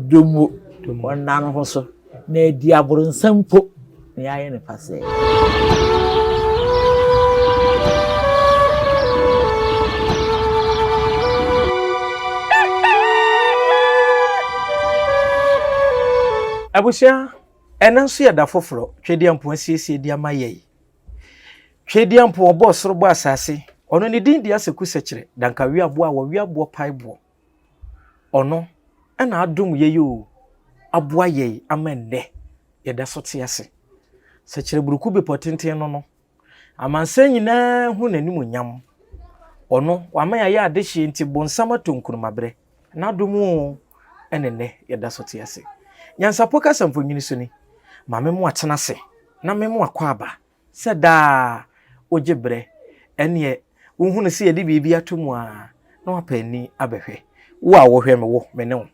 Dɔ mu, ɔnna ne ho so, na adi aborosan mpo na yɛayɛ no pasɛɛ. Abusua, ɛnnɛ nso yɛ da foforɔ. Twedeɛmpo asiesie de ama yɛn. Twedeɛmpo, ɔbɔɔ soro bɔɔ asase. Ɔno ne din de Aseku Sekyerɛ, Dankaweaboɔ a wɔwea boɔ pae boɔ. Ɔno na adom yei o, aboa yei ama nnɛ yɛda so te ase. Sɛ kyerɛburuku bepɔ tenten no no, amansan nyinaa hu n'animuonyam. Ɔno, wama yɛayɛ adehyeɛ nti bonsam ato nkurumaberɛ. N'adom o, ɛna nnɛ yɛda so te ase. Nyansapɔ kasa mfonini so ni, Ma me mmoa tena ase na me mmoa kɔ aba. sɛ daa wogye berɛ, ɛnneɛ wohu no sɛ yɛde biribi ato mu ara na wɔapɛ ani abɛhwɛ. Wo a wohwɛ me, wo, me ne wo,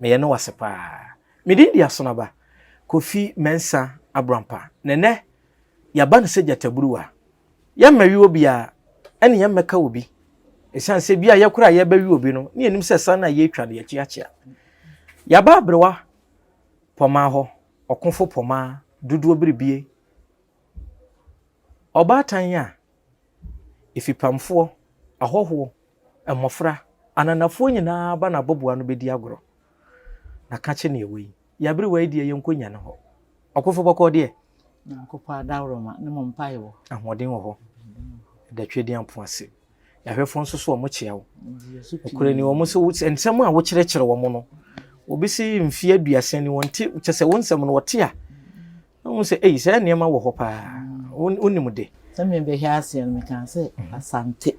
meyɛ ne wo ase pa ara. Me din de Asonaba Kofi Mensah Abrampa, na ɛnnɛ yɛaba no sɛ gyataburuwa. Yɛmmɛwe obiara, ɛne yɛmmɛka obi, ɛsiane sɛ bi a yɛkoro a yɛrebɛwe obi no ne yɛnim sɛ ɛsan no a yɛretwa no yɛakyiakyia. Yɛaba aberewa pɔmaa hɔ. ɔkofo poma dodoɔ biribie, ɔbaatan a, afipamfoɔ, ahɔhoɔ, mmɔfra, ananafoɔ nyinaa ba n'abɔboa ano bɛdi agorɔ. Na ka kye neɛ wei, Y'aberewa yi deɛ yɛnkɔ nya no hɔ. Ɔkofo bɔkɔɔ deɛ. Nyankopɔn adaworoma ne mo mpaebɔ. Ahoɔden wɔ hɔ. Ɛda Tweaduampɔn ase. Yɛahwɛfoɔ nso so wɔkyea wo. Nokorɛ ni wɔn so nsɛm a wokyerɛkyerɛ wɔn no, obi se mfeɛ aduasa ni wɔnte kyɛ sɛ wo nsɛm no wɔte a na wɔn sɛ ei saa nneɛma wɔ hɔ paa wonim de. Sɛ mebɛhwɛ aseɛ no mekaa sɛ Asante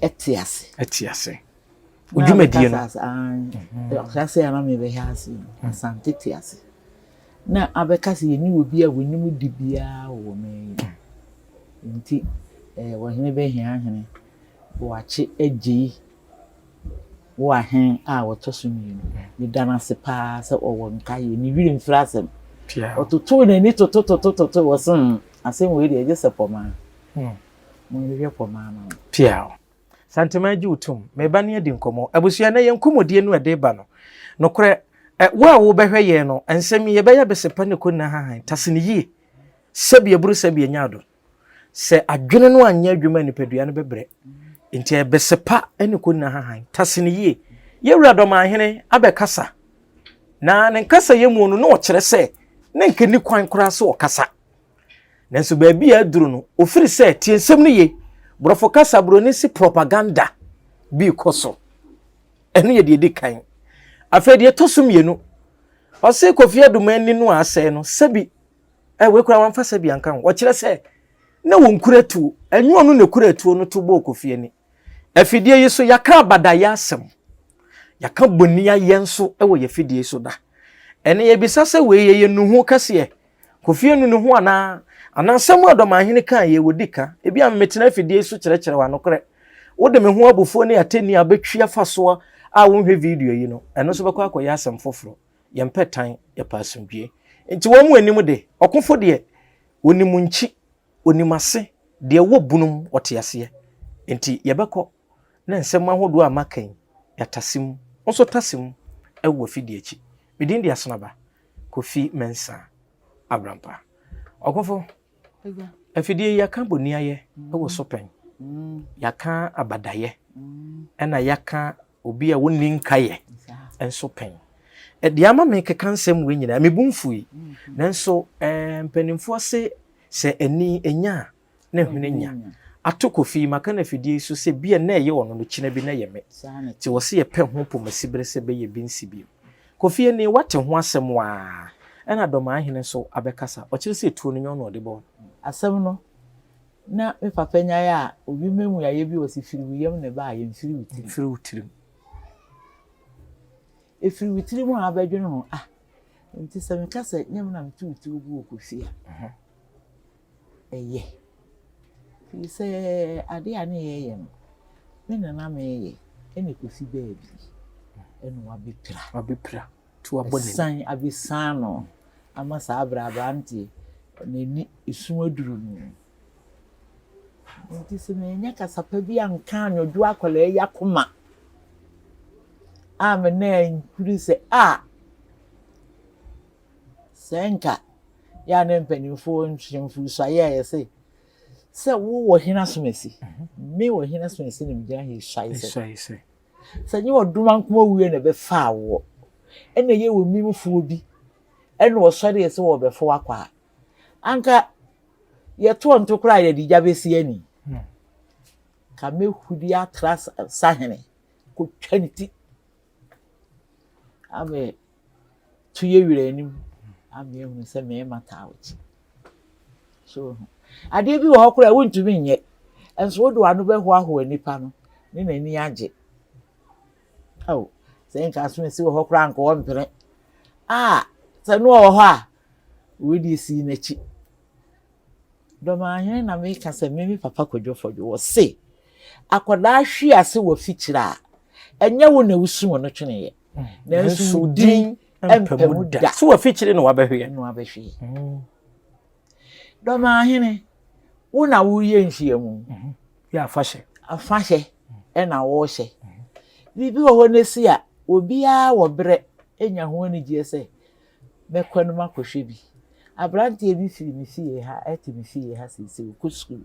ɛte ase. Ɛte ase. wo dwumadie no ɔhyɛaseɛ a na mebɛhɛ ase no asante te ase na abɛka sɛ yɛne wɔ bi a wɔnim di biara wɔ wɔ man yi nti wɔhene bɛhia ahene wɔakye agyei wɔ ahene a wɔtɔ so mmienu meda no ase paa sɛ ɔwɔ nkaeɛ ne wiri mfiri asɛm ɔtotoo n'ani totototototo wɔ se asɛm wei deɛ ɛgye sɛ pɔmaa hmm. monhwehwɛ pɔmaa ma no Santeman gye wo tom. Me ba ne adi nkɔmmɔ. Abusua, ɛnɛ yɛn nkɔmmɔdie no a ɛde ba no, nokorɛ, ɛ, wo a wobɛhwɛ yɛn no, nsɛm yi, yɛbɛyɛ abɛsepa ne kɔnina hahan. Tase no yie. Sɛbi aburu sɛbi anya adom. Sɛ adwene no anyɛ adwuma a, nipadua no bɛbrɛ. Nti ɛbɛsepa ne kɔnina hahan. Tase no yie. Yɛn Wura Dɔmanhene abɛkasa. Na ne nkasayɛ mu no, na ɔkyerɛ sɛ, na nka nni kwan koraa sɛ ɔkasa. Nanso baabi a aduru no, ofiri sɛ tie nsɛm no ye, borɔfo kasa buroni se propaganda bi rekɔ so. Ɛno yɛ deɛ ɛdi kan. Afei deɛ ɛtɔ so mmienu, ɔse Kofi Adum ani no a asɛe no, sɛbi eh, wei koraa wamfa sɛbi anka ho. Ɔkyerɛ sɛ na wɔnkura tuo, ɛnyɛ ɔno na ɛkura tuo no to bɔɔ Kofi ani. Afidie yi so yɛaka abadayɛ asɛm, yɛaka bɔniayɛ nso wɔ yɛn afidie so da. Ɛne yɛbisa sɛ wei yɛyɛ nnuho kɛseɛ. Kofi anu ne ho anaa? Anaa asɛm a Dɔmanhene kaa yɛ wɔdi ka, ebi a mmetena afidie so kyerɛkyerɛ wɔ anokorɛ. Wode me ho abufuo ne atɛnni a bɛtwi afa soɔ a wonhwɛ video yi no, ɛno nso bɛkɔ akɔyɛ asɛm foforɔ. Yɛmpɛ tan, yɛpɛ asomdwie. Nti wɔn mu anim de, ɔkofo deɛ, ɔnim nkyi, ɔnim ase, deɛ wɔ bunum, ɔte aseɛ. Nti yɛbɛkɔ. ne nsɛm ahodoɔ a maka yi, yɛatase mu. Wo nso tase mu wɔ afidie akyi. Me din de Asenaba Kofi Mensah Abrampah. Ɔkofo, afidie yi yɛaka boniayɛ wɔ so pɛn, yɛaka abadayɛ, ɛna yɛaka obi a wɔnni nkaeɛ nso pɛn. Deɛ ama me keka nsɛm wei nyinaa, mebu mfui. Nanso mpanimfoɔ se sɛ ani nya a, na hwene nya ato Kofi maka no afidie yi so sɛ bia na ɛyɛ ɔno no kyena bi na ɛyɛ me nti wɔse yɛpɛ ho pomasi bere sɛ bɛyɛ bi nsi bio. Kofi nie wate ho asɛm waa ɛna Dɔmaa Hene nso abɛkasa ɔkyerɛ sɛ tuo no nyɛ ɔno ɔde bɔɔ no. Asɛm no na me papa nyae a obi mmamu yayɛ bi ɔse firi wo yam na ɛbaayɛ mfiri wo tirim. Mfiri wo tirim. Ɛfiri wo tirim a abɛdwene ho ah nti sɛ meka sɛ nyɛ me na meto wo tuo gu wɔ Kofi a. yɛ. Firi sɛ adeɛ a na yɛyɛ no, me na na meyɛ ɛna ɛkɔsi baabi ɛna wabɛpira. Wabɛpira nti wabɔ n'ani. Ɛsan abɛsan no ama saa berɛ aberanteɛ n'ani esu aduru no. Nti sɛ manyɛ kasapa bi anka anwɔdwo akwadaa yi akoma a me na nhuri sɛ a Sɛ nka yɛ a na mpanimfoɔ nhwɛ mfirihyia a yɛse sɛ wowɔ hene asomasi me wɔ hene asomasi na megyina he hyɛe sɛ sɛ nyɛ ɔdom ankoma wuo na ɛbɛfaa woɔ ɛna yɛ wɔ mimfoɔ bi ɛna ɔsɔre yɛ sɛ wɔbɛfo wakɔ a anka yɛtoɔ nto koraa yɛde gya bɛsi ani hmm. ka mɛhudi atra sahene kɔtwa ne ti amɛ tu yɛ wira anim ama ehu sɛ mmarima taa wɔkyi so ho adeɛ bi wɔ hɔ koraa wontumi nyɛ nso wode w'ano bɛhoahoa nipa no ne n'ani agye ɛwɔ sɛ nka so nsi wɔ hɔ koraa nka ɔmpene a sɛ no wɔ hɔ a wɔde esi n'akyi dɔmahene na meka sɛ mimi papa kwadwofɔdwo wɔ se akwadaa hwi ase wɔ fikyiri a ɛnyɛ wo na wosu wɔn tweneɛ nanso wo din ɛmpɛ mu da so wafikyire na wabɛhweɛ na wabɛhweɛ mm. dɔmaahene wo na woyɛ nhyiamu mm-hmm. yɛ afahyɛ afahyɛ ɛna wɔrehyɛ mm-hmm. biribi wɔ hɔ no si a obiara wɔ berɛ nya ho anigyeɛ sɛ mɛkɔ no makɔhwɛ bi aberanteɛ bi firi me fie ha ɛte me fie ha sɛ sɛ ɔkɔ sukuu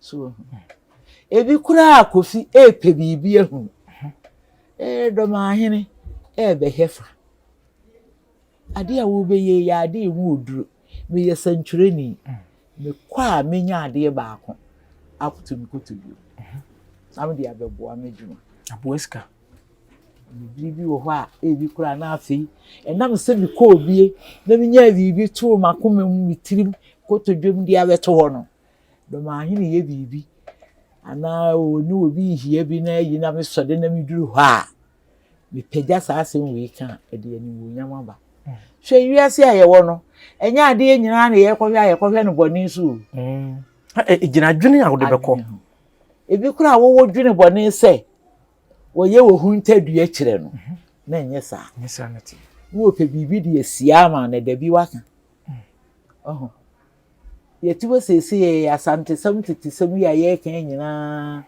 So wohu? Ebi koraa a Kofi repɛ biribi ahu. Ee, Dɔmahene rebɛhwɛ fa. Ade a wobɛyɛ yɛ ade a ɛmu oduro. Meyɛ sɛntwerɛni. Mekɔ a menya adeɛ baako akoto me koto bio. Na mede abɛboa m'adwuma. Aboa sika. Biribi bi wɔ hɔ a ebi koraa na afei ɛnam sɛ mekɔɔ bie na menyaa biribi too m'akoma mu me tirim kotodwam de abɛto hɔ no. Domahene yɛ biribi anaa ɔne obi rehia bi na ayi na mesɔ de na meduru hɔ a, mepagya saa asɛm wei ka a, ɛde animuonyam aba. Hwɛ wiase a yɛwɔ no, ɛnyɛ adeɛ nyinaa na yɛkɔhwɛ a yɛkɔhwɛ no bɔne so o. Gyina adwene a wode bɛkɔ. Ebi koraa wɔwɔ dwene bɔne sɛ wɔyɛ wɔ ho ntadua kyerɛ no na ɛnyɛ saa. Na wɔpɛ biribi de asia ama no da bi waka. yɛte hɔ seesei yɛ Asantesɛm tetesɛm yi a yɛreka yi nyinaa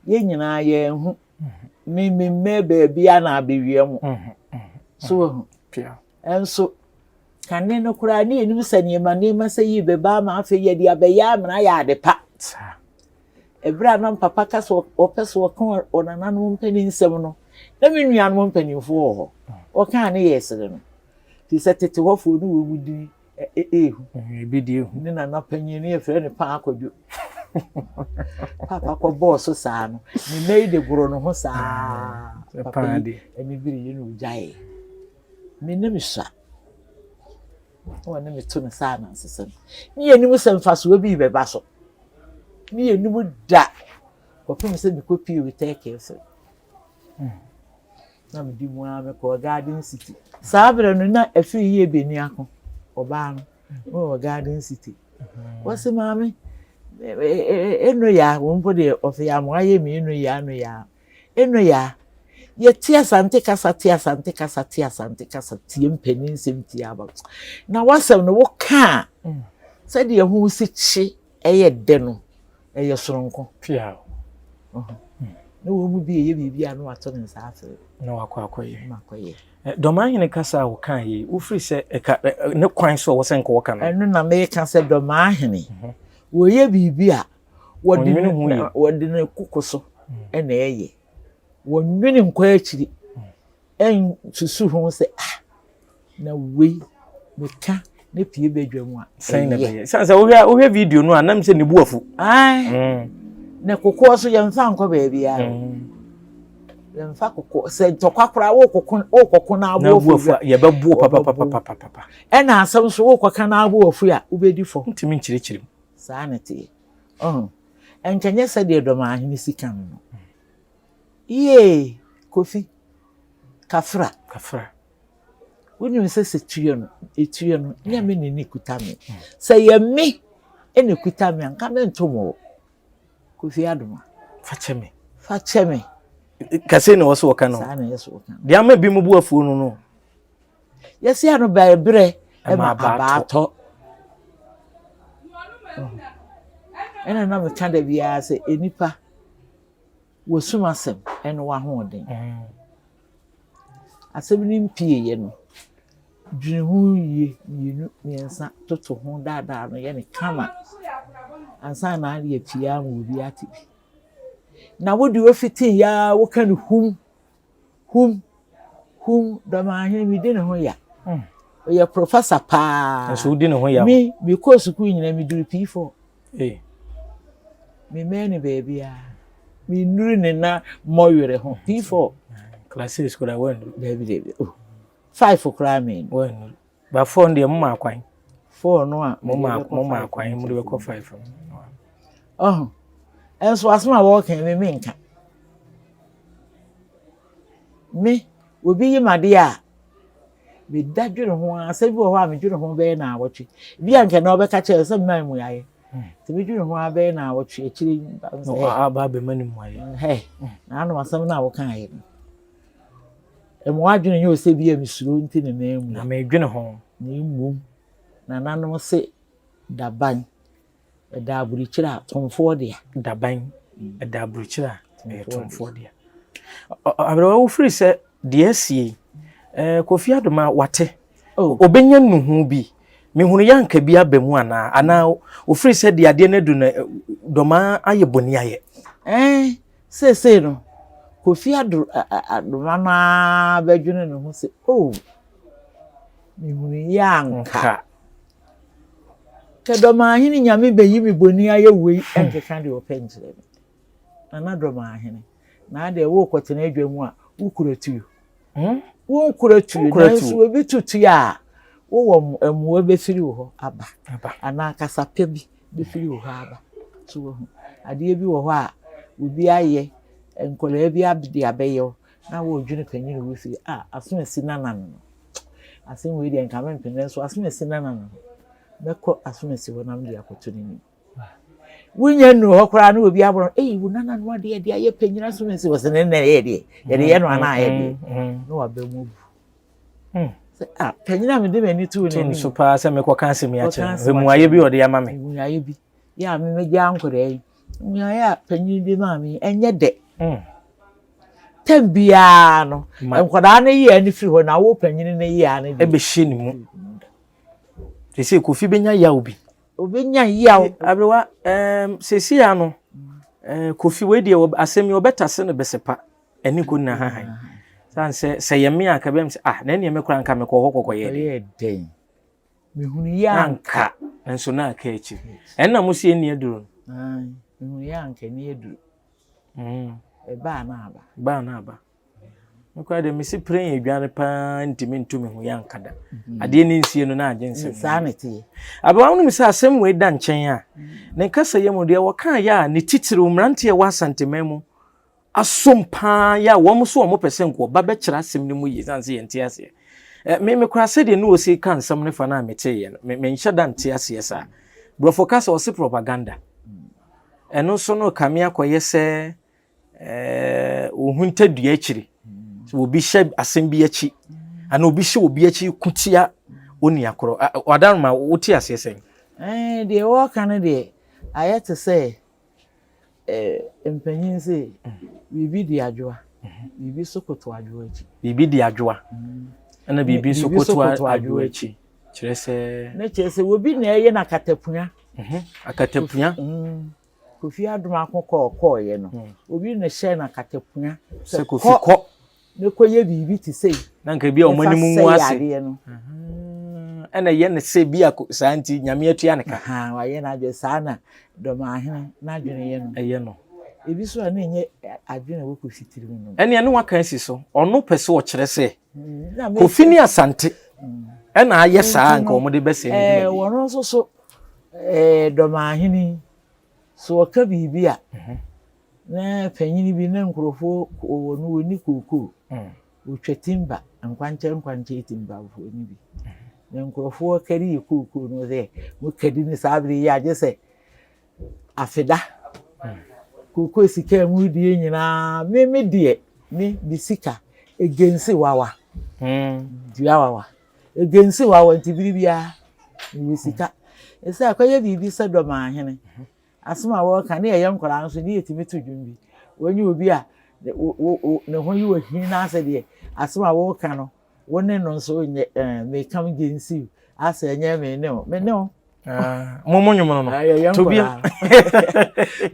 yɛn nyinaa yɛn ho me me mmɛ baabi a na abɛwia mu so wɔ ho nso kane no koraa ne yɛnim sɛ nneɛma nneɛma sɛ yi bɛba ama afei yɛde abɛyɛ amena yɛ ade pa ɛberɛ a na papa ka sɛ ɔpɛ sɛ ɔka ɔnananom mpanin nsɛm no na me nuanom mpanimfoɔ wɔ hɔ ɔkaa ne yɛ sere no nti sɛ tete hɔfoɔ no wɔ mu dini ehu. Ebi de ehu. Ne nana panyin no yɛfrɛ no paa akɔdwo. Papa kɔ bɔɔ so saa no, ne nna yi de goro no ho saa. Mm, papa yi ɛne biri yi na ogyae. Me ne me sua. Wɔn ne me to no saa na nsesa no. Ne yɛn anim sɛ mfasoɔ bi bɛba so. Ne yɛn anim da. Kɔpem sɛ mekɔ pii wɔ tɛkɛɛfo. Na mede mu ara mekɔɔ Garden City. Saa berɛ no, na afiri yie bɛni ako. Ɔbaa no, wɔ Garden City. Wɔse maame, ɛno ya, wɔn mpo deɛ ɔse ya mo ayɛ me ɛno ya, ɛno ya. Ɛno ya, yɛte asante kasa, te asante kasa, te asante kasa, tie mpanin nsɛm, tie aba. Na w'asɛm no, woka a, sɛdeɛ ho si kye. Ɛyɛ dɛ no, ɛyɛ soronko. Piaw. Ɔhɔ. Na wɔn mu bi reyɛ biribi a na wato ne nsa afrɛ. Na wakɔ akɔyɛ. Na akɔyɛ. Dɔmahene kasa a wɔka yi, wofiri sɛ ɛka ne kwan so a wɔsɛ nka wɔka no. Ɛno na meka sɛ dɔmahene. Mhm. Wɔyɛ biribi a wɔde ne ho yɛ. Wɔde ne koko so mm. na ɛyɛ. Wɔnwene nkɔ akyiri. Mm. Ɛnsusu ho sɛ ah na wei meka ne pie badwa mu a. Sɛn na bɛyɛ. Sɛ sɛ wohwɛ wohwɛ video no a nam sɛ ne bu afu. Ae. Mm. Na kokoɔ so yɛmfa nkɔ baabi a. Mm. Yɛmfa kokoɔ sɛ ntɔkwa koraa wokɔko wokɔko na abo afu. Yɛbɛboɔ papapapapapa. Ɛna asɛm so wokɔka na abo afu a wobɛdi fɔ. Ntumi nkyerɛkyerɛ mu. Saa na ɛteɛ. Ɔn. Ɛnkɛnyɛ sɛdeɛ dɔm ahene si ka no no. Yiee Kofi Kafra Kafra wonim sɛ sɛ tua no ɛtua no nyɛ me ne ne kuta me sɛ yɛ me ɛna ɛkuta me a nka mento mo Kofi Adoma fakyɛ me fakyɛ me kɛse na wɔso wɔka no deɛ ama bi mu bu afuo no no yɛsi ano bɛɛ berɛ ɛma abaatɔ ɛna na meka da biara sɛ nnipa W'asum asɛm ne w'ahoɔden. Asɛm no mpieeɛ no, dwene ho yie mmienu mmiɛnsa toto ho daadaa no yɛ no kama ansa na ayɛ pii ama obi ate bi. Na wo deɛ wofitiiɛ ara woka no hum. Hum, hum, Dɔmahene, medi ne ho ya. Mm. Ɔyɛ professor paa. Nso wodi ne ho ya. Me, mekɔɔ sukuu nyinaa, meduru P4. Hey. Memmɛn ne baabiara. Mennuru ne na mmɔ werɛ ho. P4. Class 6 koraa woannuru. Daabi, daabi. Oh. Five koraa mennuru. Woannuru. Ba four no deɛ mo maa kwan. Four no a mo maa mo maa kwan mo de bɛ kɔ five no. Ɔho ɛnso asem a wɔɔka mi mi nka. Me obi yi ma deɛ a me da dwene ho a asɛm bi wɔ hɔ a me dwene ho bɛyɛ na awɔtwe. Bi a nka na ɔbɛka kyerɛ sɛ mmaa mu ayɛ. Nti me dwene ho a bɛyɛ na awɔtwe akyire. Aba abɛma ne mu ayɛ. Hɛ na ano asɛm na wɔka ayɛ no. Mma w'adwene nyɛ wo sɛ bi a mesuro nti na maamu. Na meredwene ho. Na mmom nananom se daban ɛda aburukyire a tomfoɔ dea. Daban ɛda aburukyire a ɛyɛ tomfoɔ dea. Aberewa wofiri sɛ deɛ asie eh, Kofi Adoma wate ɔbɛnya oh. nnuhu bi mehunu yɛ anka bi aba mu anaa anaa ofiri sɛ deɛ adeɛ no adu no eh, dɔmaa ayɛ bɔni ayɛ. Eh, Seesei no, Kofi Addo Adoma no ara bɛdwene ne ho sɛ, Oh, mehunuiɛ anka. Kɛ Dɔmahene Nyame bɛyi me boni ayɛ woi ɛnkeka deɛ ɔpɛ nkyerɛ me. Nana Dɔmahene, na adeɛ worekɔtena adwa mu a, wokura tuo? Hmm? Wonkura tuo, nanso obi to tuo a, wowɔ mmoa bɛfiri wo hɔ aba, anaa kasape bi. bɛfiri wo hɔ aba. So wahu? Adeɛ bi wɔ hɔ a obi ayɛ, nkwadaa bi de abɛyɛ wo na woredwene panin wɔ fie, ah aso asi Nana no no, asem wei deɛ nka mempene nanso aso asi Nana no no, mɛkɔ aso asi hɔ na mede akɔto n'anim. Wonya nnuru hɔ koraa na obi abɔ no, ei wo Nana no adeɛ de ayɛ panyin aso asi hɔ sɛ ne nnɛ yɛ deɛ, yɛde yɛ no anaa yɛ deɛ, na waba mu abu. Hmm. Ah, panyin a mede m'ani too n'anim. Tum so paa sɛ mekɔka asɛm yi akyerɛ no. Mmuaeɛ bi ɔde ama me. Mmuaeɛ bi. Yɛ a memegya nkwadaa yi. Mmuaeɛ a panyin de maa me ɛnyɛ dɛ. Hmm. Tɛm biara no, nkwadaa no yɛ ani firi hɔ na awo panyin no yɛ ani. Ɛbɛhyɛ ne mu. Te sɛ kofi bɛnya yaw bi. Obɛnya yaw. Aberewa, ɛɛm, sɛsi ya no, kofi wei deɛ asɛm yi ɔbɛtase no bɛsɛ pa. Ɛne ko nna hahan. San sɛ sɛ yɛ me a nka bɛm sɛ ah na ɛneɛ me koraa nka mekɔ hɔ kɔkɔ yɛ dɛ. dɛn. Mehunu yɛ anka. Nso na aka akyiri. Ɛnna mo se ɛni aduro no. Ae mehunu yɛ anka ɛni aduro. Mm. Ɛba a na aba. Ba a na aba. Me koraa deɛ mese pere yɛ adwane paa ntumi nto me ho yɛ anka da. Mm-hmm. Adeɛ ne nsie no na agye nsɛm. Saa na ɛteɛ. Abawa no mu sɛ asɛm wei da nkyɛn a ne nkasa yɛ mu deɛ wɔkaa yɛ a ne titiriw mmeranteɛ wɔ asanteman mu asom paa yɛ a wɔn nso wɔn pɛ sɛ nko ɔba bɛkyerɛ asɛm no mu yie san sɛ yɛnte aseɛ ɛ me me kora sɛdeɛ ne ɔsi ka nsɛm no fa no a meteeɛ no me menhyɛ da nte aseɛ saa borɔfo ka sɛ ɔse propaganda ɛno nso no kame akɔyɛ sɛ ɛɛ ohunta dua akyiri sɛ obi hyɛ asɛm bi akyi ana obi hyɛ obi akyi ko tia oni akorɔ wadaroma wote aseɛ sɛn ɛɛ deɛ wɔka no deɛ ayɛ te sɛ Eh, mpanyin se, biribi di adwoa, biribi nso koto adwoa akyi. Biribi di adwoa, ɛna biribi nso koto adwoa akyi. Kyerɛ sɛ. Ne kyerɛ sɛ obi na ɛyɛ na akatapua. Mhm, akatapua. Mm. Kofi adom ako kɔɔ kɔɔyɛ no, mm. obi na hyɛ na akatapua. Sɛ kofi kɔ. mɛkɔyɛ biribi te sɛ yi na nka bi a wɔn anim ngu ase ɛna ɛyɛ no sɛ bi a saa nti nyame atua ne ka wayɛ no adwene saa na dɔmaahene n'adwene yɛ no ɛyɛ no ebi so a na ɛnyɛ adwene a wɔkɔ fitiri mu no ɛne ɛne waka asi so ɔno pɛ sɛ ɔkyerɛ sɛ mm, kofi ne asante mm. ɛna ayɛ saa nka wɔn de bɛsɛ ne dwuma bi wɔn nso so dɔmaahene so ɔka biribi a mhm. Na panyin bi na nkurɔfoɔ wɔ no wɔni kookoo wɔtwa timba nkwankyɛn nkwankyɛn timbafoɔ no bi na nkurɔfoɔ kari yɛ kookoo no sɛ mokadi no saa bere yi agye sɛ afeda kookoo sika a mu die nyinaa me me deɛ me me sika egensi wawa dua wawa egensi wawa nti bere biara mewɔ sika ɛsɛ akɔyɛ biribi sɛ dɔm ahene Asɛm a wɔreka ne yɛyɛ nkwadaa no so ne yɛtumi to dwom bi. Wonyɛ obi a ne ho yɛ ɔhi na asɛ deɛ asɛm a woreka no wo ne no nso nyɛ ɛɛ me come against you asɛ ɛnyɛ me ne wo me ne wo. Ah, mo mo nwom no no. Ah, yɛyɛ nkwadaa.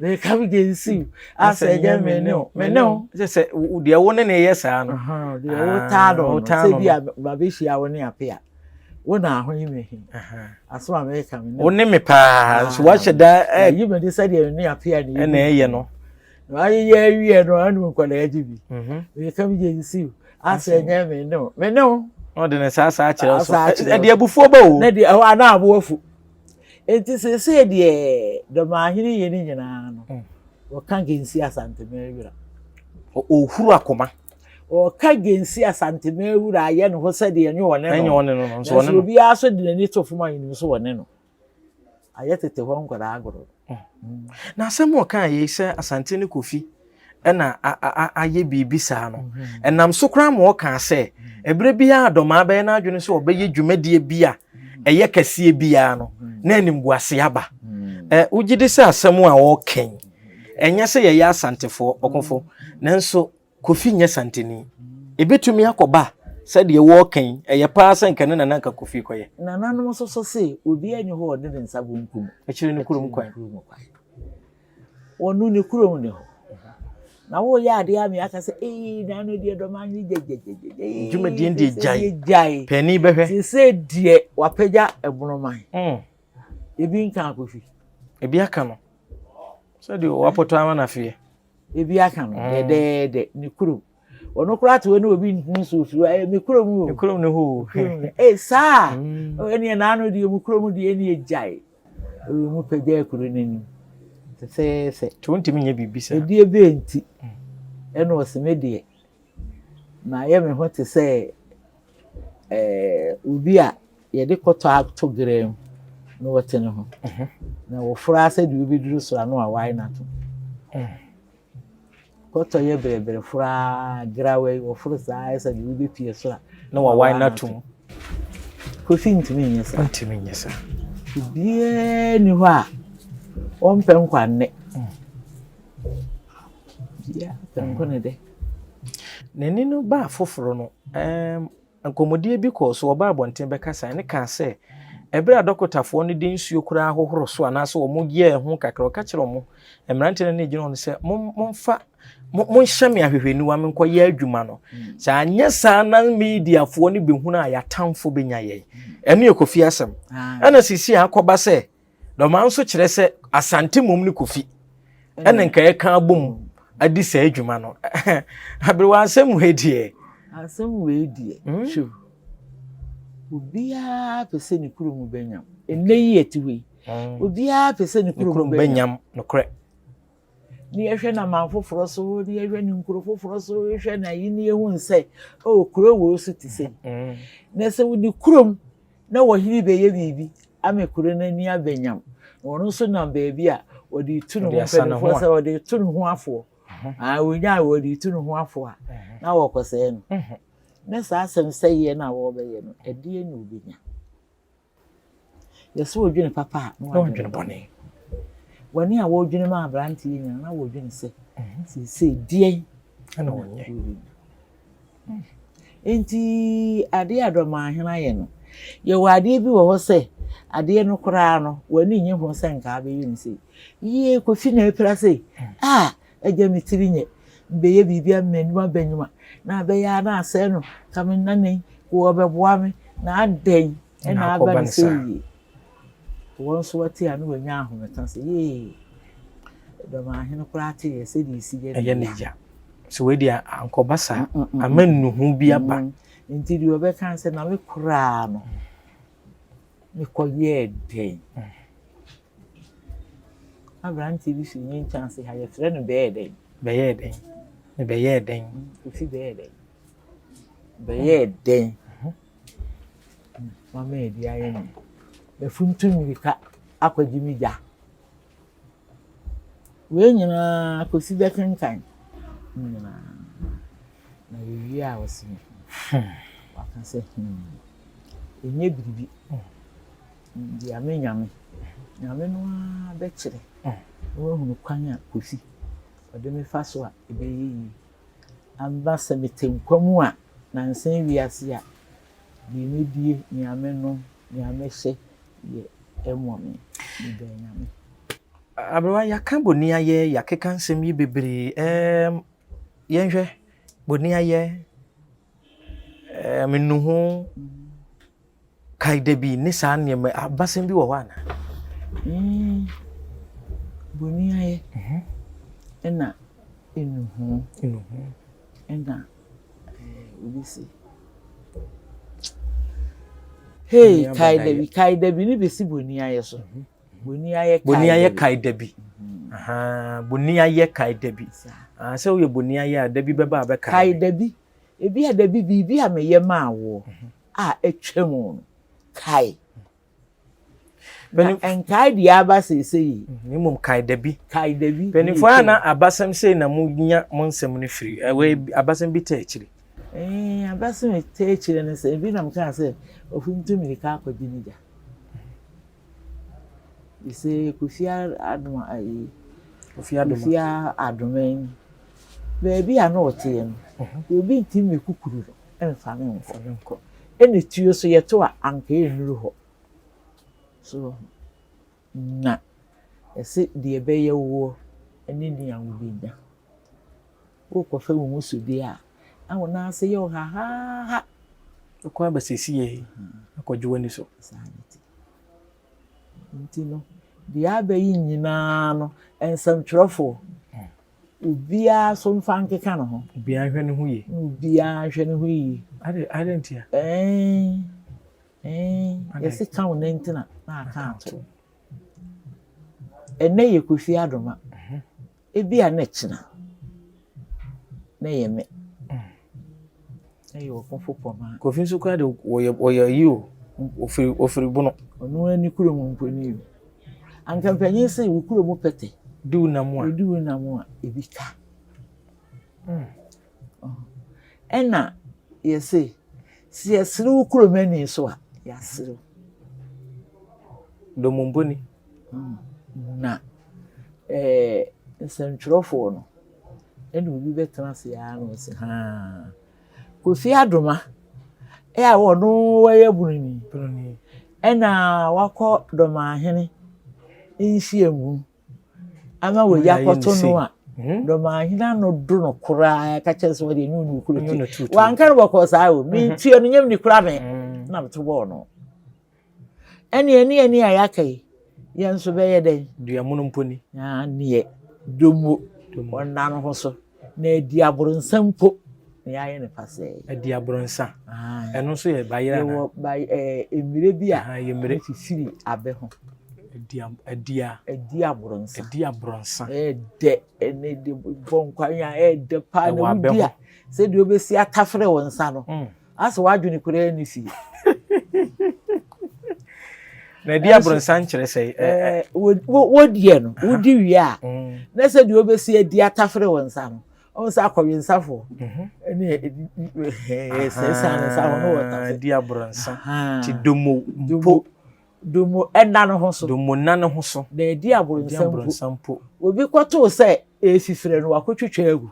Me come against you asɛ ɛnyɛ me ne wo me ne wo. Sɛ sɛ deɛ wo ne ne yɛ saa no. Deɛ wotaa no no sɛ bi a mabɛhyia wo ne ape a. wo na ho yi me he asɛm a meka me wo ne me paa nso wahyɛ da yi me de sɛdeɛ me ne apea ne ɛna ɛyɛ no na ayeyɛ awie no ɔne nkwadaa gye bi meka me gye si asɛ nyɛ me ne wo me ne wo ɔde ne saa saa kyerɛ so ɛde abufuo ba o na de ɛhɔ ana aboafu nti sese deɛ dɔmaahene yɛ ne nyinaa no wɔka gensi asantema awira ɔhuru akoma Wɔka Gensi Asante Mewura ayɛ ne ho sɛdeɛ ɛnyɛ ɔne no. Ɛnyɛ ɔne no no, nso ɔne no. Nanso obiara nso de n'ani to fam a yɛnim nso ɔne no. Ayɛ tete hɔ nkwadaa agorɔ. Na asɛm a ɔkaa yei sɛ Asante ne Kofi ɛna ayɛ biribi saa no, ɛnam so koraa ma ɔkaa sɛ ɛberɛ biara Dɔmaa bɛyɛ n'adwene sɛ ɔbɛyɛ dwumadie bi a ɛyɛ kɛseɛ biara no, na animguaseɛ aba. Wogye di sɛ asɛm a ɔreka yi, ɛnyɛ sɛ yɛyɛ Asantefoɔ, Ɔkofo, nanso Kofi nyɛ santeni. Ebetumi akɔba sɛ deɛ wɔreka yi, ɛyɛ pa ara sɛ anka ɛno na na anka Kofi rekɔyɛ. Nananom nso so se, Obiara nni hɔ a ɔde ne nsa benkum Akyiri ne kurom kwan. akyiri ne kurom kwan. Wɔno ne kurom ne hɔ. Na woreyɛ adeɛ a meaka sɛ, Ee, na ano deɛ dɔm ano yi gyagyagyagya. Ee, Dwumadie no deɛ sɛ gyae. deɛ gyae. Paani bɛhwɛ. Te sɛ deɛ wapagya ɛbono man. Mm, Ebi nka Kofi. Ebi aka no sɛ deɛ wapɔtɔ ama no afeɛ. ebi aka no mm. dɛdɛɛdɛ ne kurom ɔno koraa te hɔ ne obi ntumi so ofiri hɔ ɛyɛ me kurom o me kurom no hoo ee saa mm. ɛneɛ naano deɛ mu kurom deɛ ɛneɛ gyae ɛwɔ mu pɛgya akuro no anim sɛsɛɛsɛ to ntumi nyɛ biribi saa ɛdeɛ bɛɛ nti mm. ɛna ɔseme deɛ Mayɛ me ho te sɛ eh, obi a yɛde kɔtɔ ato gerɛ mu na wɔte ne ho na wɔforo ara sɛ deɛ wobɛduru soro ano a wae n'ato. Kɔtɔ yɛ berɛberɛ foro ara gerawa yi wɔforo saa ayɛ sɛ deɛ wobɛpie soro a na wawae n'ato. Kofi ntumi nyɛ saa. Ntumi nyɛ saa. Obiara ni hɔ a ɔmpɛ nkwa nnɛ. Bia nko ne dɛ. N'ani no baa foforo no, ɛɛm, nkɔmmɔdie bi kɔɔ so, ɔbaa abɔnten bɛkasaeɛ no kaa sɛ, ɛberɛ a dɔkotafoɔ no de nsuo koraa hohoro so anaasɛ wɔn yɛɛ ho kakra, ɔka kyerɛ wɔn, mmeranteɛ no ne gyina hɔ no sɛ, mo, momfa, mo, monhyɛ me ahwehwɛniwa menkɔyɛ adwuma no. Sɛ anyɛ saa na mediafoɔ no bɛhunu a, yɛatamfo bɛnya yɛn. Ɛno yɛ Kofi asɛm. Ɛna sisi a akɔba sɛ, dɔmaa nso kyerɛ sɛ asante mmom ne kofi ɛna mm. nka yɛka abom adi saa adwuma no aberewa asɛm wei deɛ asɛm wei deɛ hmm? hwɛ obiara pɛ sɛ ne kuro mu bɛnyam ɛnɛ yi ɛte hɔ yi hmm. obiara pɛ sɛ ne kuro mu bɛnyam nokorɛ ne yɛhwɛ no aman foforɔ so, ne yɛhwɛ no nkuro foforɔ so, hwɛ no ayi ne yɛhu sɛ, oh, kuro wei so te sɛ mm. na sɛ wode kurom na wɔhene bɛyɛ biribi ama kuro no ani abɛnyam na ɔno nso nam baabi a wɔde tu ne ho mpanimfoɔ sɛ wɔde tu ne ho afoɔ mhm. ah, wɔnya a wɔde tu ne ho afoɔ a mhm. na wɔkɔsɛɛ no mhm. na saa asɛm sɛeɛ no a wɔbɛyɛ no ɛdeɛ na wɔbɛnya Yɛ sɛ wodwene papa a na wɔdwene bɔne. Bɔne a wɔredwene ma aberante yi nyina na wɔredwene sɛ mhm. seesei deɛn na wɔnyɛ. Hmm. Enti adeɛ a dɔmaahena ayɛ no, yɛwɔ adeɛ bi wɔ hɔ sɛ adeɛ no koraa no w'ani nye ho sɛ nkaa bɛyɛ no sei. Yie kofi na apira sei. Hmm. A Agya me tiri nyɛ bɛyɛ biribi ama m'anim aba nyuma na abɛyɛ ara na asɛe no ka me nna nnɛ yi wɔ ɔbɛboa me na adɛn ɛna aba no sɛ yie wɔn nso wate a na wɔanya ahomeka sɛ yee dɔmahene koraa te yɛ sɛdeɛ ɛsi yɛ ɛyɛ ne gya sɛ wɔadi ankɔba saa ama nnuhu bi aba nti deɛ ɔbɛka sɛ na me koraa no mekɔyɛɛ dɛn Aberanteɛ bi firi me nkyɛn ase ha, yɛfrɛ no bɛyɛɛ dɛn? Bɛyɛɛ dɛn? Ne bɛyɛɛ dɛn? Ofi bɛyɛɛ dɛn? Bɛyɛɛ dɛn? Mama yɛ bi ayɛ no. Bɛfuntu mmirika akɔgye me gya. Wei nyinaa kɔsi bɛkenkan. Ne nyinaa. Na yɛwie a ɔse me. Waka sɛ, hmm, ɛnyɛ biribi. Deɛ me Nyame, Nyame no ara bɛkyerɛ na wahunu kwan a Kofi ɔde me fa so a ɛbɛyɛ yie. Aba sɛ mete nkwa mu a, nansa yi wiase a, deɛ mɛdie, nea mɛnom, nea mɛhyɛ yɛ ɛmmɔ me. Meda Nyame. Aberewa, yɛaka boniayɛ, yɛakeka nsɛm yi bebree. Ɛɛm, yɛnhwɛ boniayɛ, ɛɛm, nnuho, Kae da bi ne saa nneɛma abasɛm bi wɔ hɔ anaa? Mm. Boni ayɛ. Mhm. Ɛna enuhu. Enuhu. Ɛna eh, obi si. Hey, kae da bi, kae da bi ne besi boni ayɛ so. Mhm. Boni ayɛ kae. Boni ayɛ kae da bi. Mhm. Boni ayɛ kae da bi. Ah, sɛ woyɛ boni ayɛ a da bi bɛba a bɛkae. Kae da bi. Ebi a da bi biribi a meyɛ maa woɔ. Mhm. a atwa mu no kae. Na nkae deɛ aba seesei yi. Mm, na mmom kae da bi. Kae da bi. Mpanimfoɔ a na abasɛm sei na monya mo nsɛm no firi. Ɛwɔ mm. abasɛm bi ta akyiri. Ee, eh, abasɛm bi ta akyiri no sɛ ebi nam kaa sɛ ofuntu mmirika akɔgye ne gya. Ese Kofi Adoma ayi. Kofi Adoma. Kofi Adoma yi. Baabi a na ɔteɛ no, mhm. obi ntumi kukuru no. mfa no mfa no nkɔ ɛna tuo so yɛto a anka ɛnnuru hɔ so wɔ ho na ɛse deɛ ɛbɛyɛ woɔ ne nea wobɛnya wokɔfa wo ho so deɛ a na wo nan ase yɛ wo hahaha ɛkɔ aba sɛsie akɔgye w'ani so saa ne ti nti no deɛ aba yi nyinaa no nsɛmtwerɛfoɔ Obiara so mfa nkeka ne ho. Obiara nhwɛ ne ho yie. Obiara nhwɛ ne ho yie. Ade ade ntia. Ɛɛn ɛɛn yɛsi ka wo nantena na aka ato. Ɛnɛ yɛ kofi adoma. Mhm. Ebi a na ɛkyina na yɛ me. Ɛyɛ ɔkofo pɔ ma. Kofi nso kura de wɔyɛ wɔyɛ ayi o ofiri ofiri bono. Ɔno ani kuro mu mpo ni o. Anka mpanyin sɛ wo kuro mu pɛtɛ. Di wo nam a. Di wo nam a ebi ka. Hmm. Oh. Ɛna yɛse sɛ yɛsere wo kuro mu ani so a yɛasere wo. Domo mpo ni. Hmm. Na ɛɛ eh, nsɛntwerɛfoɔ no. ɛna obi bɛtena ase ara na ɔsi haa Kofi Adoma ɛ a ɔno wɔyɛ Broni ɛna wakɔ Dɔmahene nhyiam mu ama wɔyi akɔto no a hmm? Dɔmahene ano do no koraa ka kyerɛ sɛ ɔde ne ɔnu kuro ti wanka no bɔkɔɔ saa o mentua no nyam ni koraa me hmm. na meto bɔɔ no Ɛnneɛ ne ani a yɛaka yi, yɛn nso bɛyɛ dɛn? Dua mono mpo ni. Aneɛ, dwommo, ɔnna no ho so, na adi aborɔnsa mpo, na yɛayɛ no pasɛɛ. Adi aborɔnsa. Ɛno nso yɛ bayerɛ anaa? Yɛwɔ ba ɛɛ mmerɛ bi a ɛmmerɛ fifiri abɛ ho. Adi adi a. Adi aborɔnsa. Adi aborɔnsa. Ɛɛdɛ ɛne de bɔ nkwa yɛn a ɛɛdɛ paa na wodi a sɛdeɛ wobɛsi atafere wo nsa no. Asɛ w'adwene koraa nni fie. na ɛde abrɔnsan kyerɛ sɛ wodiɛ no wodi wie a na sɛ deɛ wobɛsi adi atafere wo nsa no ɔhu sɛ akɔwensafoɔ ne sɛsa no nsa ho no wɔtadi abrɔnsa nti domo mpo domo ɛna no ho so domo nna no ho so na ɛdi abrɔnsa mpo obi kɔtoo sɛ ɛfifirɛ no wakɔtwitwa agu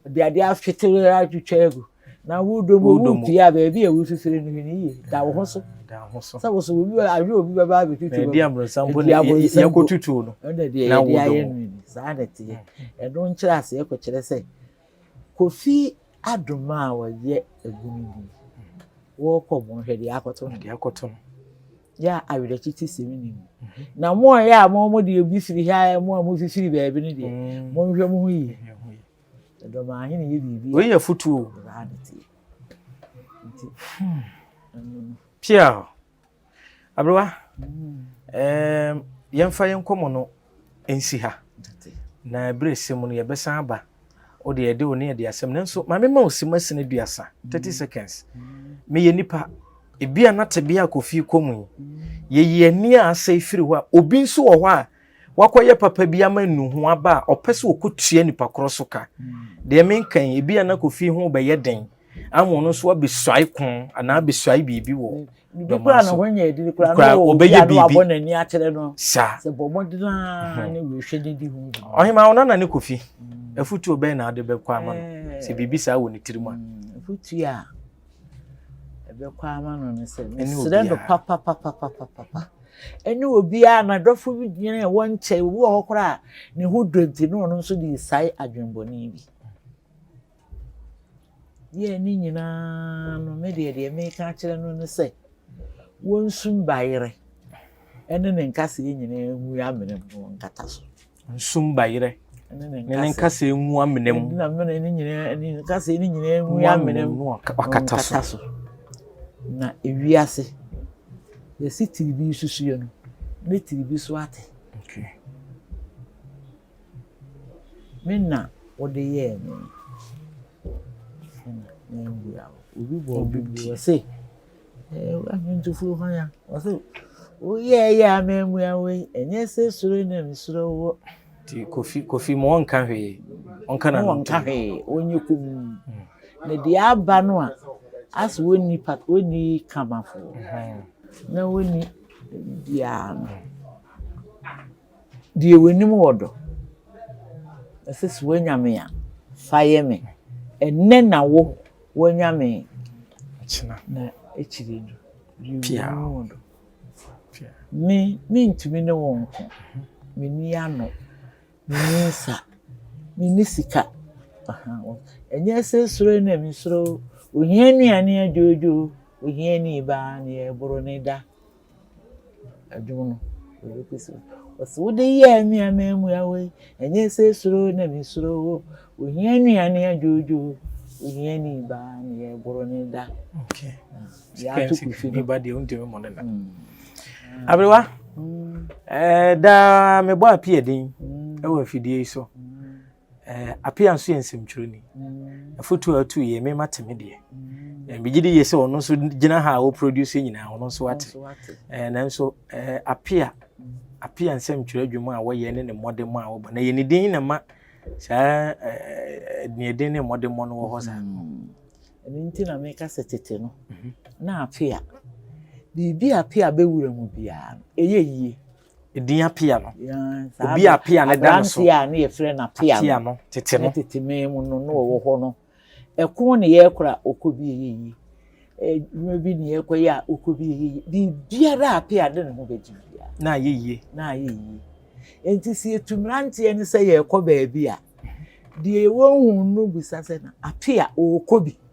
Ɔde adeɛ ahwete atwitwa agu na wodɔ mu wopie a baabi a wofifiri no hwene yie da wo ho so sɛ wo so obi ahwɛ obi bɛba abɛtutu bɛba ɛdi abonsa mpo ne yɛkɔ tutu no ɛna deɛ yɛde ayɛ no ni saa na ɛteɛ mm. ɛno nkyerɛ aseɛ kɔkyerɛ sɛ kofi adoma a wɔyɛ agunu bi wɔkɔ bɔnhwɛ deɛ akɔto no deɛ akɔto no Yɛ a awerɛkyekye sɛm nni mu. Na mo a ɛyɛ a mo mo deɛ bi firi ha a mo a mofifiri baabi no deɛ mm. monhwɛ mo ho yie ɛdɔm ahene yɛ biribi wei yɛ fotuo pia aberewa mm. yɛmfa yɛn nkɔmmɔ no nsi ha na bere sɛ mu no yɛbɛsan aba wo deɛ yɛde wo ne yɛde asɛm nanso ma mema wo sima sini duasa thirty seconds meyɛ nipa ebi a na tebea kofi kɔ mu yi yɛyi ani a asɛe firi hɔ a obi nso wɔ hɔ a wakɔyɛ papa bi ama nu ho aba a ɔpɛ sɛ ɔkɔtua nipa korɔ so ka deɛ menka yi ebi a na kofi ho bɛyɛ den ama ɔno nso abɛsuae ko anaa abɛsuae biribi wɔ dɔma so kora ɔbɛyɛ biribi saa ɔhema wo nana ne kofi mm. afutuo bɛn na ade bɛkɔ ama no sɛ biribi saa wɔ ne tirim a afutuo a ɛbɛkɔ ama no no sɛ mesrɛ no papapapapapa ɛne obiara na dɔfo bi gyina ɛwɔ nkyɛn obi wɔ hɔ koraa ne ho dɔ nti ne ɔno nso de sae adwembɔne bi Yɛɛ ne nyinaa no, me deɛ deɛ meka akyerɛ no ne sɛ, wɔnsu mbayerɛ ne ne nkaseɛ nyinaa ngu amena mu na wɔnkata so. Nsu mbayerɛ ne ne nkaseɛ ngu amena mu. Na mena ne nyinaa ne nkaseɛ ne nyinaa ngu amena mu na wɔnkata so. Na ewiase, yɛsi tiribi susuɛ no, ne tiribi so ate. Okay. Me na wode yɛɛ me. Obi te ɔse ɔse woyɛɛ yɛ a memmua wo yi ɛnyɛ sɛ suro na mesuro wo. Ti kofi kofi mo ɔnka hwee ɔnka na ɔnka hwee ɔnyɛ kum na deɛ aba no a asɛ wɔnni pa wɔnni kamafo na wɔnni biara no. Deɛ w'anim wɔ dɔ. Ɔse sɛ w'anya me a fa yɛ me. Ɛnɛ na wo w'anya me. Akyena. Na akyire no. Pia. Deɛ w'anim wɔ dɔ. Pia. Me me ntumi ne wo nko. Me ni ano. Me ni nsa. Me ni sika. Ɛnyɛ sɛ suro na me suro. Ohia nnuane adwoodwoo. Ohia ni baa na yɛ boro ne da. Dwom no, yɛbɛkɔ so. Ɔse wode yɛɛ me amamua wei, ɛnyɛ sɛ suro na me suro wo. Ohia nnuane adwoodwo, ohia ni ba na yɛboro ne da. Okay. Yɛato kufi no. Ba deɛ wontumi mmɔ ne da. Mm. Aberewa, mm. eh, daa mebɔ api ɛden mm. ɛwɔ afidie yi so. Appiah nso yɛ nsɛmtwerɛni. Afotu a ɔtu yɛ mema te me deɛ. Megye di yie sɛ ɔno nso gyina ha a ɔproduce nyinaa ɔno nso ate. Nanso Appiah Appiah nsɛmtwerɛ adwuma a wɔyɛ ne ne mmɔdemmɔ a wɔbɔ na yɛ ne din na ma saa deɛ din ne mmɔdemmɔ no wɔ hɔ saa. Ɛno nti na meka sɛ tete no na Appiah biribi a Appiah bɛwura mu biara no ɛyɛ yie. Edin apea no. Obi a apea no da no so. Aberanteɛ a ne yɛfrɛ no apea no. Tete no. Tete mɛn mu no na ɔwɔ hɔ no. Ɛko ne yɛkora a ɔkɔ bi yɛ yi. Adwuma bi ne yɛkɔ yɛ a ɔkɔ bi yɛ yi. Biribiara a apea de ne ho bɛgye biara. Na ayɛ yie. Na ayɛ yie. Enti sɛ yɛtu mmeranteɛ no sɛ yɛrekɔ baabi a, deɛ wɔnhu no bisa sɛ na apea ɔrekɔ bi.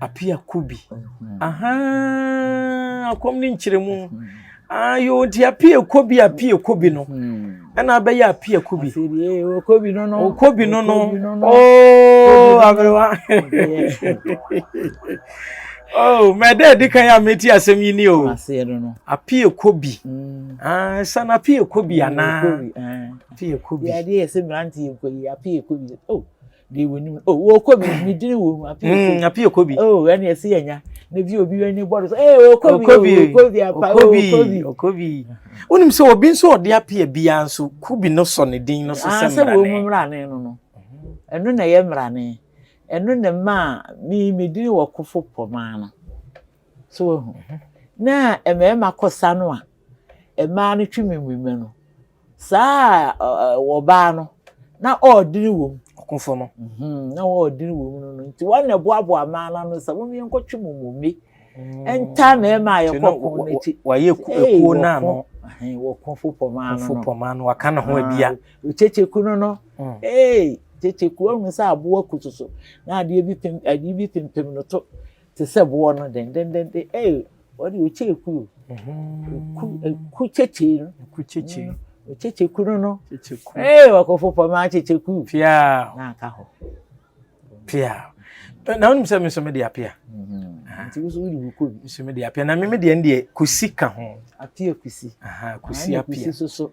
Apia Kubi. Ahaa, kɔm ne nkyerɛmu. Ah, yo, nti Apia Kubi, Apia Kubi no. Hmm. Ɛna abɛyɛ Apia Kubi. Okobi no no. Okobi no no. Oh, aberewa. Oh, mɛdɛ di kan yɛ a meti asɛm yi ni o. Aseɛ no no. Apia Kubi. Hmm. Ah, san Apia Kubi anaa. Apia Kubi. Yɛ adeɛ yɛ sɛ mmeranteɛ nkɔ yi, Apia Kubi. Oh. deɛ wɔnim o wɔkɔ bi ne dini wɔ mu apii apii okɔ bi o ɛna ɛsi yɛ nya na bi obi wɛni bɔdo so ee okɔ bi okɔ bi okɔ bi apa okɔ bi okɔ bi wonim sɛ obi nso ɔde apia biara nso ku bi no sɔ ne din no so sɛ mmerane sɛ wɔn mu mmerane no no ɛno na ɛyɛ mmerane ɛno na maa mi mi dini wɔ kofo pɔmaa no. So woahu? Na mmarima kɔsa no a, mmaa no twe mmemmema no. Saa ɔbaa no, na ɔɔdene wɔ mu. Ɔkofo no. Mhm, na ɔɔdene wɔ mu no no. Nti wɔn na ɛboaboa mmaa no ano sɛ wɔn yɛn kɔtwe mu mmemme. Ntaa mmarima a yɛkɔ ko no akyi. Wɔayɛ ekuo no ano. Wɔko fo pɔmaa no. Fo pɔmaa no, waka ne ho abia. Kyekyeku no no. Ee, kyekyeku ahunu sɛ aboa ku soso. Na adeɛ bi pem, adeɛ bi pempem no to. te sɛ boɔ no dendendende ee ɔde ɔkyɛ eku o eku eku kyekye no eku kyekye ɔkyekye ku no no kyekye ku ee ɔkɔfo pɔmɛ akyekye ku pia na aka hɔ pia na wɔn sɛ mi nso mi de apia nti nso mi de mi kɔ bi nso mi de apia na mi mi deɛ mi deɛ kusi ka ho apia kusi kusi apia kusi soso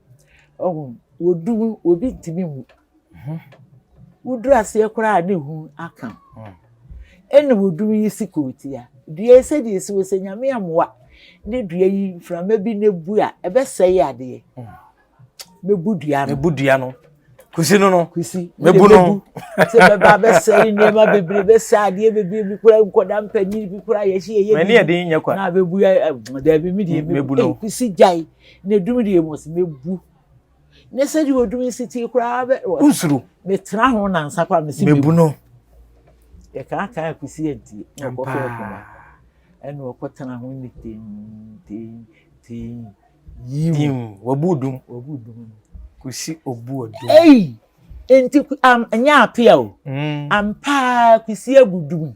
Ɔho wɔdu mu obi ntumi mu ho woduru aseɛ koraa a ne ho aka ho ɛna wɔdu mu yi si kootia dua yi sɛdeɛ ɛsi wɔ sɛ nyame amoa ne dua yi mframa bi na bu a ɛbɛsɛe adeɛ mɛbu dua no mɛbu dua no kusi no no kusi mɛbu no sɛ bɛba bɛsɛe nneɛma bebree bɛsɛ adeɛ bebree bi koraa nkɔda mpanyin bi koraa yɛhyɛ yɛyɛ bi na bɛbu daabi me deɛ mɛbu no kusi gyae Ne dum deɛ mu ɔse mɛbu. Ne sɛdeɛ ɔdum yi si tee koraa bɛ. Wosuro. Metena ho nansa koraa mese mɛbu. Mɛbu no. Yɛkaakaa kɔsi adie. Na ɔkɔfɛ akuma. Ɛna ɔkɔtena ho ne tem tem tem. Yim. Wabu dum. Wabu dum no. Kɔsi ɔbu ɔdum. Ei! Nti ɛnyɛ apea o. Mm. Ampaa kɔsi abu dum.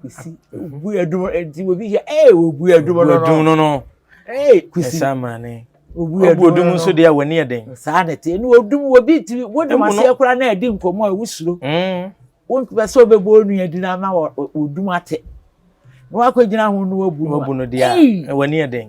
Kwesi obu ɛdum ɛdi obi yɛ ɛɛ obu ɛdum no no. Obu ɛdum no no. Ɛɛ kwesi. Ɛsa amane. Obu ɛdum no no. Obu ɛdum nso deɛ wɔ ni ɛdɛn. Saa na ɛte ɛnu odum obi ti wodum aseɛ kura na ɛdi nkɔmɔ a wusuro. Wɔn pɛ sɛ ɔbɛbɔ onua di na ama odum ate. Na wakɔ gyina ho no wabu no. Wabu no deɛ ɛwɔ ni ɛdɛn.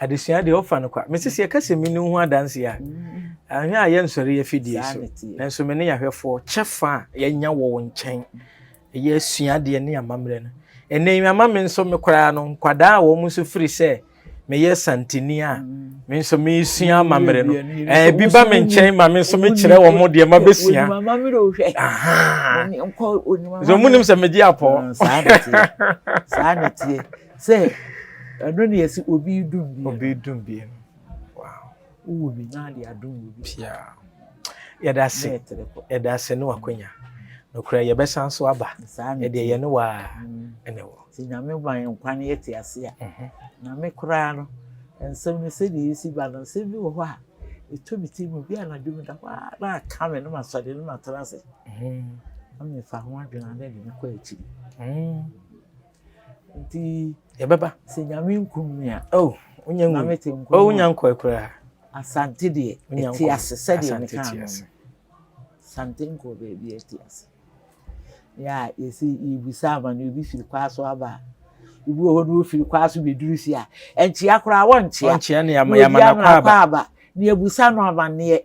Adesua deɛ ɔfa no kwa. Mese sɛ yɛka sɛ mini wo ho adanseɛ a, ahwɛ a yɛnsɔre afidie so. Nanso me ne yɛahwɛfoɔ kyɛfa a yɛanya wɔ wo nkyɛn ɛyɛ asuadeɛ ne amammerɛ no. Ɛnɛ yi ama me nso me koraa no nkwadaa a wɔn nso firi sɛ meyɛ santini a me nso mesua amammerɛ no ebi ba me nkyɛn ma me nso mekyerɛ wɔn mo deɛ mabɛsua sɛ ɔmo nim sɛ megye apɔ saa ne tie Sɛ ɛno na yɛsi obi dum bie. Obi dum bie no. Wow. Wowɔ bi na ade adum wɔ bi. Pia. Yɛda ase. Yɛda ase ne wakonya. Nokora yɛbɛsan so aba. Ɛdeɛ yɛne wa ɛna wɔ. Ti nyame ma yɛn nkwa ne yɛte ase a. Na me koraa no nsɛm no sɛdeɛ ɛsi ba no nsɛm bi wɔ hɔ a ɛtɔ me ti mu bi anadwo mu da hɔ a na aka me no masɔre no matena ase na mefa ho adwene a na ɛde me kɔ akyiri Nti yɛbɛba. Sɛ Nyame nkum me a. Oh, wonya ngu. Nyame te nko. Oh, wonya nkɔɛ koraa. Asante deɛ, ɛte ase sɛdeɛ meka no. Asante nkɔɔ baabi ɛte ase. Yɛ a yɛsi yɛbisa ama no ebi firi kwaa so aba a. Ebi wɔ hɔ no wofiri kwaa so bɛduru si a. Ɛnkyea koraa wɔnkyea. Wɔnkyea ne yɛama no akɔ aba. Ne yɛbusa no amanneɛ.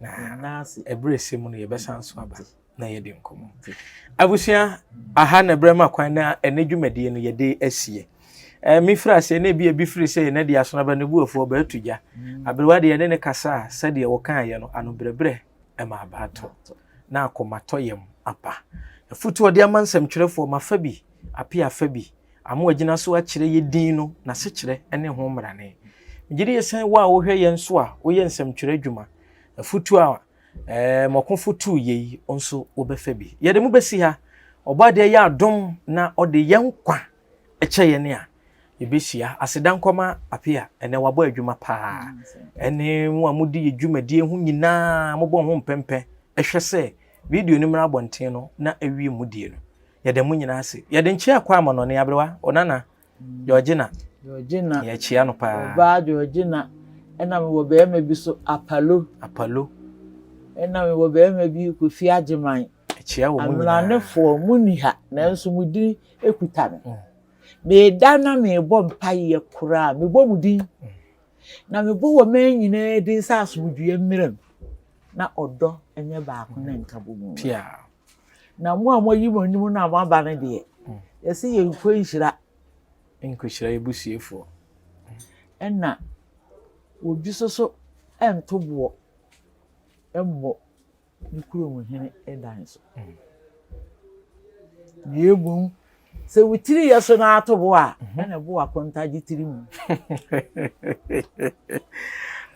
na berɛ ɛsɛ mu no yɛbɛsan nso aba na yɛde nkɔmmɔ abusua aha na berɛ ma kwan na ɛne dwumadie no yɛde asie mefiri aseɛ na ebi ebi firi sɛ yɛn de asono aba ne buafoɔ bɛatu gya mm. aberewa deɛ ne ne kasa a sɛdeɛ wɔkaeɛ no anobrɛbrɛ ɛma abaatɔ na akɔmatɔ yam apa ɛfotoɔ de ama nsɛmtwerɛfoɔ mafa bi apia fa bi a mo agyina so akyerɛ yɛ din no n'asekyerɛ ne ho mmarane. Megye di sɛ wo a wohwɛ yɛ nso a woyɛ nsɛmtwerɛ adwuma, afotuo a Mɔkofo tuu yɛ yi nso wobɛfa bi. Yɛde mo bɛsi ha. Ɔbɔadeɛ yɛ adom na ɔde yɛ nkwa kyɛ yɛn a yɛbɛhyia. Aseda nkɔma apia, ɛnɛ wabɔ adwuma paa. Ɛne mo a mode yɛ dwumadie ho nyinaa mobɔ ho mpɛmpɛ hwɛ sɛ Video no mmra abɔnten no na ɛwie mudie no. Yɛda mo nyinaa ase. Yɛde nkyea kɔ ama Nɔne Aberewa, Onana, Georgina. Georgina. Yɛkyea no paa. Ɔbaa Georgina. Ɛna mewɔ barima bi so, Apalo. Apalo. Ɛna mewɔ barima bi, Kofi Agyeman. Ɛkyea wɔ mo nyinaa. Amranefoɔ, mo ni ha, nanso mo din kuta me. Mm. Meda na mebɔ mpaeɛ koraa, mebɔ mo din. Mm. Na mebɔ wɔ mmaa nyinaa din sɛ asomdwoeɛ mmram. na ɔdɔ nyɛ baako na nkabɔ mu pia na mo a moayi mo anim no a moaba no deɛ mm. yɛsɛ yɛnkɔ nhyira nkɔhyira yɛbusuafoɔ ɛna obi so so ɛnto boɔ mmɔ ne kurom hene dan so mm. na mmom Sɛ wo tiri yɛ so na ato bo a, ɛna ɛbo akontagye tiri mu.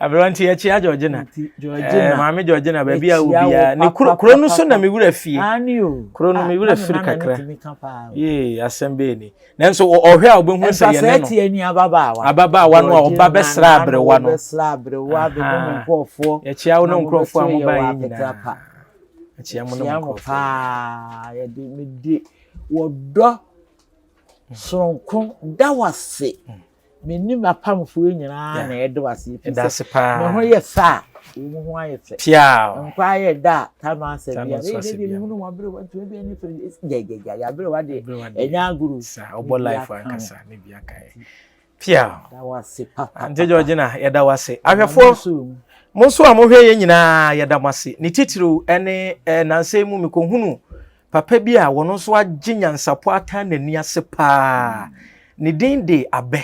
Aberanteɛ kyia Georgina. Georgina. Eh, maame Georgina baabi a obiara ne kuro kuro no so na me wura fie. Ani o. Kuro no me wura firi kakra. Yee asɛm bɛyɛ ni. Nanso ɔhwɛ a ɔbɛhu sɛ yɛn no. Ɛsɛ ɛte ani ababaawa. Ababaawa no a ɔba bɛsra aberewa no. Bɛsra aberewa bɛbɛ mu nkurɔfoɔ. Yɛkyia wo ne nkurɔfoɔ a mo ba yɛ nyinaa. Yɛkyia mo ne nkurɔfoɔ. Yɛkyia mo paa. Yɛde me de. Wɔ dɔ soronko da wase me ne m'apamfoɔ nyinaa na ɛde wase efisɛ me ho yɛ fɛ a wɔn ho ayɛ fɛ nkwa ayɛ da a ta no asɛ bia ɛyɛ dɛ deɛ mehunu wɔn aberewa ntoma bi ani fɛ gyagyaga yɛ aberewa deɛ ɛnyɛ agoro ɔbɔ life ankasa ne bi aka yɛ Pia. Ante Georgina, yɛda wo ase. Ahwɛfoɔ, mo nso a mohwɛ yɛn nyinaa yɛda mo ase. Ne titiriw ɛne eh, nansɛ mu mekɔhunu papa bi a wɔn nso agye nyansapɔ ata n'ani ase paa. Ne din de Abɛ.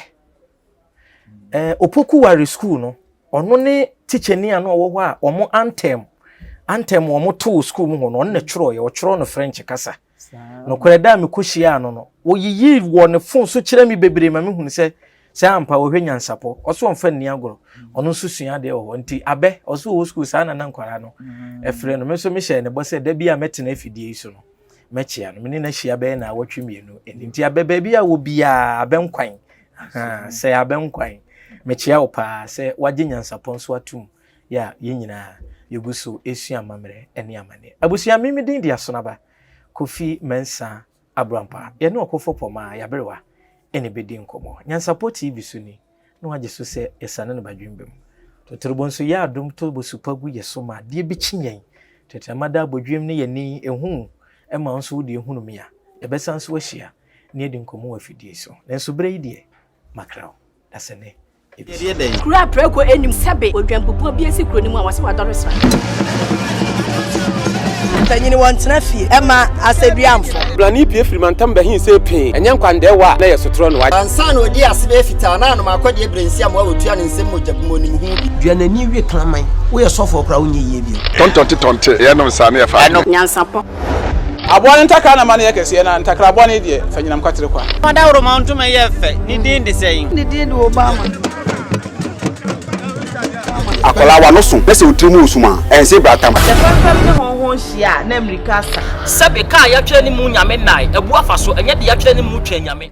Eh, Opoku Ware School no, ɔno ne tikyani a na ɔwɔ hɔ a wɔn antɛm antɛm wɔn too school mu hɔ no, ɔno na ɛtwerɛeɛ, ɔtwerɛ no French kasa. Nokorɛ da a mekɔhyiaa no no, ɔyiyii wɔ ne fon so kyerɛɛ me bebree ma mehunu sɛ sɛ ampa ɔhwɛ nyansapɔ. Ɔse ɔmfa nni agorɔ. Ɔno nso sua adeɛ wɔ hɔ. Nti Abɛ, ɔse ɔwɔ sukuu saa na na nkwadaa no frɛ no. Me nso mehyɛɛ no bɔ sɛ da bi a mɛtena afidie yi so no, mɛkyea no. Me ne no ahyia bɛyɛ naawɔtwe mmienu ni. Nti Abɛ, baabi a wɔ biara, Abɛ Nkwan, ahaa, sɛ Abɛ Nkwan, mekyea wo paa sɛ woagye nyansapɔ nso atom. yɛ a yɛn nyinaa yɛgu so resua amammerɛ ne amanneɛ. Abusua, me me din de Asonaba Kofi Mensah Aburampah. Yɛne Ɔkofo Pomah Yaberewa na ɛbɛdi nkɔmmɔ. Nyansapɔ TV so ni na wɔagye so sɛ yɛsane no ba Dwembam. Totorobɔ nso yɛ adom to bosu pa gu yɛn so ma adeɛ bɛkyi yɛn. Tɛtrɛma da abodwiem ne yɛn ani ɛhu ma wo nso wo deɛ hunu me a. Yɛbɛsan nso ahyia na yɛadi nkɔmmɔ wɔ afidie so. Nanso berɛ yi deɛ makra wo dasani. Ɛteɛ dɛn? Kuro a prɛko nnim sɛbe odwanbubuo bi asi kuro no mu a wɔse wadɔre sra. Mpanyini wɔn tena fie ɛma asɛduamfo. Brani pie firi mantam bɛhin sɛ pee ɛnyɛ nkwandɛɛ wɔ a na yɛ sotorɔ no wagye. Ansa na ɔdi ase bɛyɛ fitaa na anom akɔdeɛ brɛnsi amoa ɔtua ne nsam mogya gu mu ɔnim ho bi. Dua n'ani wie kraman. Woyɛ sɔfoɔ koraa wonyɛ yie bio. Tɔntɔnte tɔnte yɛnom saa na yɛfa adwene. Nyansapɔ Aboa no ntakra na ma no yɛ kɛseɛ, na ntakra bɔne deɛ, fa nyinam kwatere kwa. Fa dawuroma ntoma yɛ fɛ, ne din de sɛn? Ne din de Obama. Akwadaa w'ano so na sɛ wo tiri mu resum a, ɛnse bratam. Ɔsɛ fɛmfɛm ne hɔnho nhyia a na mmirika asa. Sɛbe kaa yɛatwerɛ ne mu Nyame nnae, abu afa so, ɛnyɛ deɛ yɛatwerɛ ne mu twɛn Nyame.